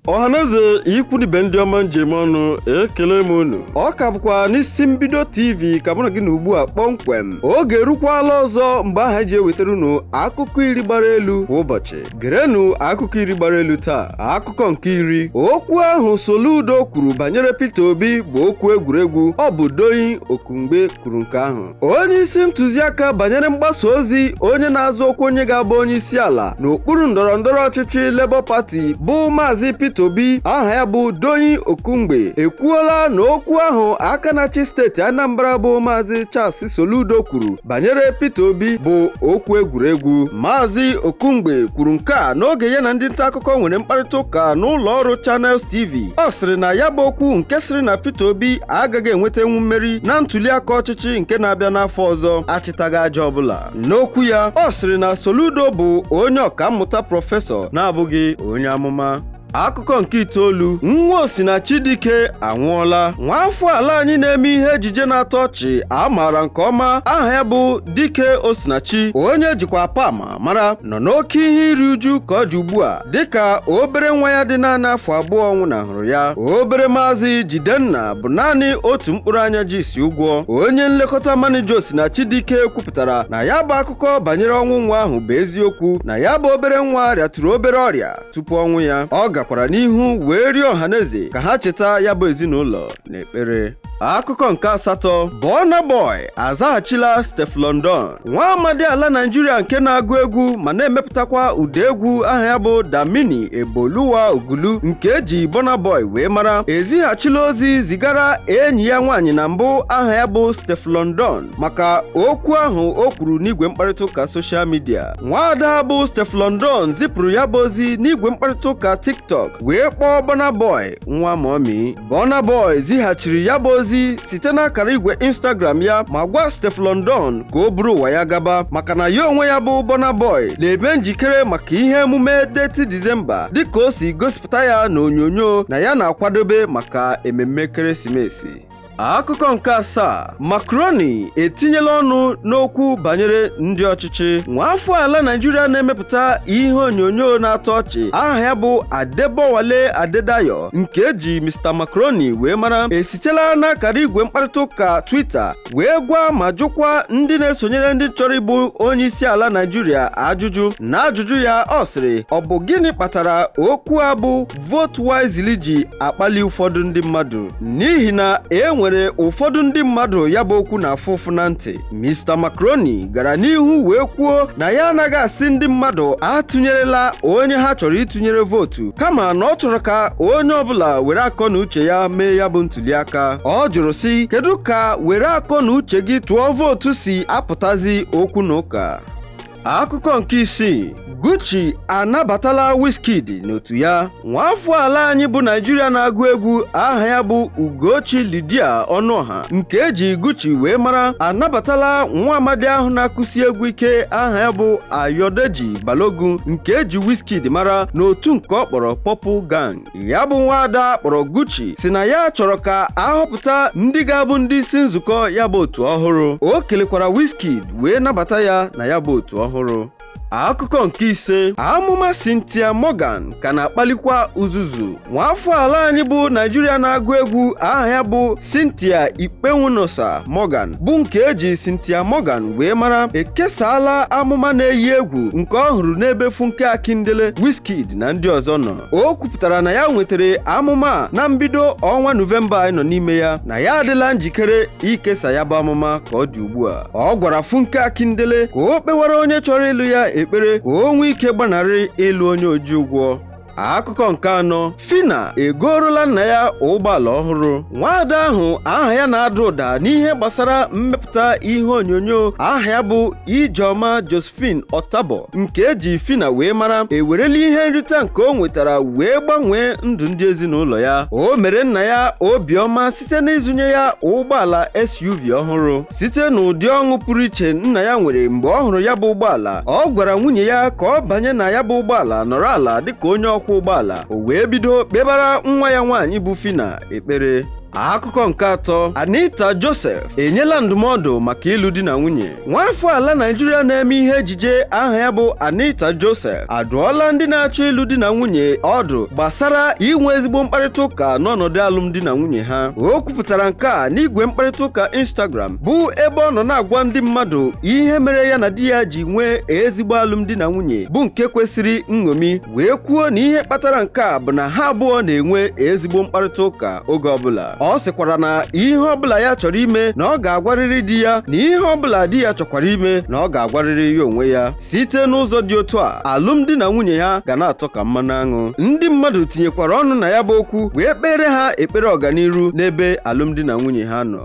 ọhaneze ikwu na ibe ndị ọma m ji eme ọnụ ekele m unu ọ ka bụkwa n'isi mbido tv ka mụ na gị nọ ugbu a kpọmkwem oge erukwala ọzọ mgbe ahụ eji ewetara unu akụkọ iri gbara elu kwa ụbọchị gerenụ akụkọ iri gbara elu taa akụkọ nke iri okwu ahụ Soludo kwuru banyere Peter Obi bụ okwu egwuregwu ọ bụ Doyin Okupe kwuru nke ahụ onye isi ntụziaka banyere mgbasa ozi onye na-azọ ọkwa onye ga-abụ onye isi ala n'okpuru ndọrọ ndọrọ ọchịchị Labour Party bụ Maazị Peter Obi aha ya bụ Doyin Okupe ekwuola na okwu ahụ aka na-achị steeti Anambra bụ Maazị Charles Soludo kwuru banyere Peter Obi bụ okwu egwuregwu Maazị Okupe kwuru nke a n'oge ya na ndị nta akụkọ nwere mkparịta ụka n'ụlọ ọrụ Channels TV ọ sịrị na ya bụ okwu nke sịrị na Peter Obi agaghị enwetanwu mmeri na ntuliaka ọchịchị nke na-abịa n'afọ ọzọ achịtaghị aja ọbụla n'okwu ya ọ sịrị na Soludo bụ onye ọkammụta prọfesọ na-abụghị onye amụma akụkọ nke itoolu nwa Osinachi Dike anwụọla nwaafọ ala anyị na-eme ihe ejije na-atọ ọchị a maara nke ọma aha ya bụ Dike Osinachi onye ejikwa Apama mara nọ n'oke ihe iri uju ka ọ dị ugbu a dịka obere nwa ya dị naanị afọ abụọ nwụnahụrụ ya obere maazị Jidenna bụ naanị otu mkpụrụ anya ji isi ụgwọ onye nlekọta manija Osinachi Dike kwupụtara na ya bụ akụkọ banyere ọnwụ nwa ahụ bụ eziokwu na ya bụ obere nwa rịatụrụ obere ọrịa tupu ọnwụ ya ọ gakwara n'ihu wee rịọ ọhaneze ka ha cheta ya bụ ezinụlọ n'ekpere akụkọ nke asatọ Burna Boy azaghachila Stefflon Don nwa amadi ala Naịjirịa nke na-agụ egwu ma na-emepụtakwa ụda egwu aha ya bụ Damini Eboluwa Ogulu nke eji Burna Boy wee mara ezighachila ozi zigara enyi ya nwaanyị na mbụ aha ya bụ Stefflon Don maka okwu ahụ o kwuru n'igwe mkparịta ụka soshal midia nwaada bụ Stefflon Don zipụrụ ya bụ ozi n'igwe mkparịta ụka TikTok wee kpọọ Burna Boy nwa mommy Burna Boy zighachiri ya bụ ozi site n'akara igwe Instagram ya ma gwa Stefflon Don ka o buru ụwa ya gaba maka na ya onwe ya bụ Burna Boy na-eme njikere maka ihe emume Detty December dịka o si gosipụta ya n'onyonyo na ya na-akwadobe maka ememme ekeresimesi akụkọ nke asaa Macaroni etinyela ọnụ n'okwu banyere ndị ọchịchị nwaafọ ala Naịjirịa na-emepụta ihe onyonyo na-atọ ọchị aha ya bụ Adebowale Adedayo nke eji Mr Macaroni wee mara esitela n'akara igwe mkparịta ụka Twitter wee gwa ma jụkwa ndị na-esonyere ndị chọrọ ịbụ onye isi ala Naịjirịa ajụjụ n'ajụjụ ya ọ sịrị ọ bụ gịnị kpatara okwu a bụ vote wisely ji akpali ụfọdụ ndị mmadụ n'ihi na e nwere ụfọdụ ndị mmadụ ya bụ okwu na-afụ ụfụ na ntị Mr. Macaroni gara n'ihu wee kwuo na ya anaghị asị ndị mmadụ atụnyerela onye ha chọrọ ịtụnyere vootu kama na ọ chọrọ ka onye ọbụla were akọ na uche ya mee ya bụ ntuliaka ọ jụrụ sị kedu ka were akọ na uche gị tụọ vootu si apụtazi okwu na ụka Akụkọ nke isii Guchi anabatala Wizkid n'otu ya nwaafọ ala anyị bụ Naijiria na-agụ egwu aha ya bụ Ugochi Lydia Ọnụọha nke eji Guchi wee mara anabatala nwa amadi ahụ na-akụsi egwu ike aha ya bụ Ayodeji Balogun nke eji Wizkid mara n'otu nke ọ kpọrọ Purple Gang ya bụ nwaada kpọrọ Guchi sị na ya chọrọ ka a họpụta ndị ga-abụ ndị isi nzukọ ya bụ otu ọhụrụ o kelekwara Wizkid wee nabata ya na ya bụ otu ọhụrụ akụkọ nke ise amụma Cynthia Morgan ka na-akpalikwa uzuzu nwaafọ ala anyị bụ Naijiria na-agụ egwu aha ya bụ Cynthia Ikponmwenosa Morgan bụ nke eji Cynthia Morgan wee mara ekesaala amụma na-eyi egwu nke ọ hụrụ n'ebe Funke Akindele Wizkid na ndị ọzọ nọ o kwupụtara na ya nwetara amụma a na mbido ọnwa nọvemba anyị nọ n'ime ya na ya adịla njikere ikesa ya bụ amụma ka ọ dị ugbu a ọ gwara funke akindele ka o kpewara onye chọrọ ịlụ ya ekpere ka o nwee ike gbanarị ịlụ onye oji ụgwọ akụkọ nke anọ phyna egoorola nna ya ụgbọala ọhụrụ nwaada ahụ aha ya na-ada ụda n'ihe gbasara mmepụta ihe onyonyo aha ya bụ ijeọma jos phine Otabor nke eji Phyna wee mara ewerela ihe nrita nke o nwetara wee gbanwee ndụ ndị ezinụlọ ya o mere nna ya obiọma site n'ịzụnye ya ụgbọala SUV ọhụrụ site n'ụdị ọṅụ pụrụ iche nna ya nwere mgbe ọ hụrụ ya bụ ụgbọala ọ gwara nwunye ya ka ọ banye na ya bụ ụgbọala nọrọ ala dịka onye ọkwọ ụgbọala o wee bido kpebara nwa ya nwaanyị bụ Phyna ekpere akụkọ nke atọ Anita Joseph enyela ndụmọdụ maka ịlụ di na nwunye nwaafọ ala Naijiria na-eme ihe ejije aha ya bụ Anita Joseph adụọla ndị na-achọ ịlụ di na nwunye ọdụ gbasara inwe ezigbo mkparịta ụka n'ọnọdụ alụmdi na nwunye ha o kwupụtara nke a n'igwe mkparịta ụka Instagram bụ ebe ọ nọ na-agwa ndị mmadụ ihe mere ya na di ya ji nwee ezigbo alụmdi na nwunye bụ nke kwesịrị nṅomi wee kwuo na ihe kpatara nke a bụ na ha abụọ na-enwe ezigbo mkparịta ụka oge ọbụla ọ sịkwara na ihe ọbụla ya chọrọ ime na ọ ga-agwarịrị di ya na ihe ọbụla di ya chọkwara ime na ọ ga-agwarịrị ya onwe ya site n'ụzọ dị otu a alụmdi na nwunye ha ga na-atọ ka mmanụ aṅụ ndị mmadụ tinyekwara ọnụ na ya bụ okwu wee kpeere ha ekpere ọganiru n'ebe alụmdi na nwunye ha nọ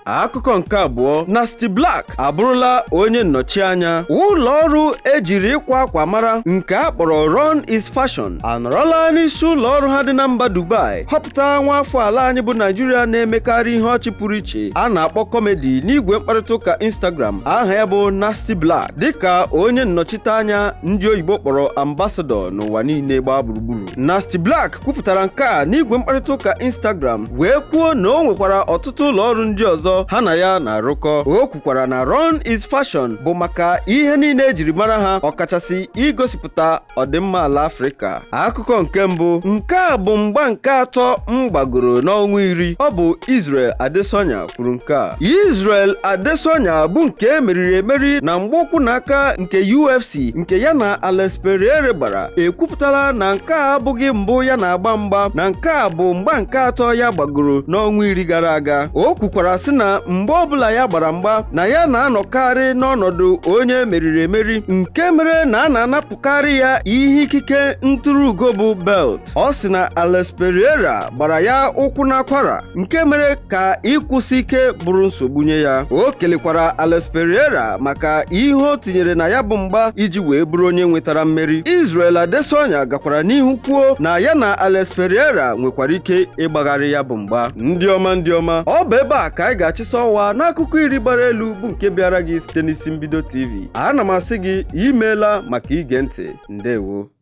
akụkọ nke abụọ Nasty Blaq abụrụla onye nnọchianya ụlọ ọrụ ejiri ịkwa akwa mara nke a kpọrọ Run is Fashion anọrọla n'isi ụlọ ọrụ ha dị na mba Dubai họpụta nwa afọ ala anyị bụ Naijiria na-emekarị ihe ọchị pụrụ iche a na-akpọ kọmedi n'igwe mkparịta ụka Instagram aha ya bụ Nasty Blaq dịka onye nnọchiteanya ndị oyibo kpọrọ ambasadọ n'ụwa niile gbaa gburugburu Nasty Blaq kwupụtara nke a n'igwe mkparịta ụka Instagram wee kwuo na o nwekwara ọtụtụ ụlọ ọrụ ndị ọzọ ha na ya na-arụkọ o kwukwara na Run is Fashion bụ maka ihe niile ejiri mara ha ọkachasị igosipụta ọdịmma ala Afrịka akụkọ nke mbụ nke a bụ mgba nke atọ m gbagoro n'ọnwa iri ọ bụ Israel Adesanya kwuru nke a Israel Adesanya bụ nke e meriri emeri na mgba ụkwụ na aka nke UFC nke ya na Alex Pereira gbara ekwupụtala na nke a abụghị mbụ ya na-agba mgba na nke a bụ mgba nke atọ ya gbagoro n'ọnwa iri gara aga o kwukwara sị na mgbe ọbụla ya gbara mgba na ya na-anọkarị n'ọnọdụ onye meriri emeri nke mere na a na-anapụkarị ya ihe ikike ntụrụugo bụ belt ọ sị na Alex Pereira gbara ya ụkwụ n'akwara nke mere ka ịkwụsi ike bụrụ nsogbu nye ya o kelekwara Alex Pereira maka ihe o tinyere na ya bụ mgba iji wee bụrụ onye nwetara mmeri Israel Adesanya gakwara n'ihu kwuo na ya na Alex Pereira nwekwara ike ịgbagharị ya bụ mgba ndị ọma ndị ọma ọ bụ ebe a ka anyị ga-achịsa ọwa n'akụkọ iri gbara elu bụ nke bịaara gị site n'isi mbido TV ana m asị gị imeela maka ige ntị ndewo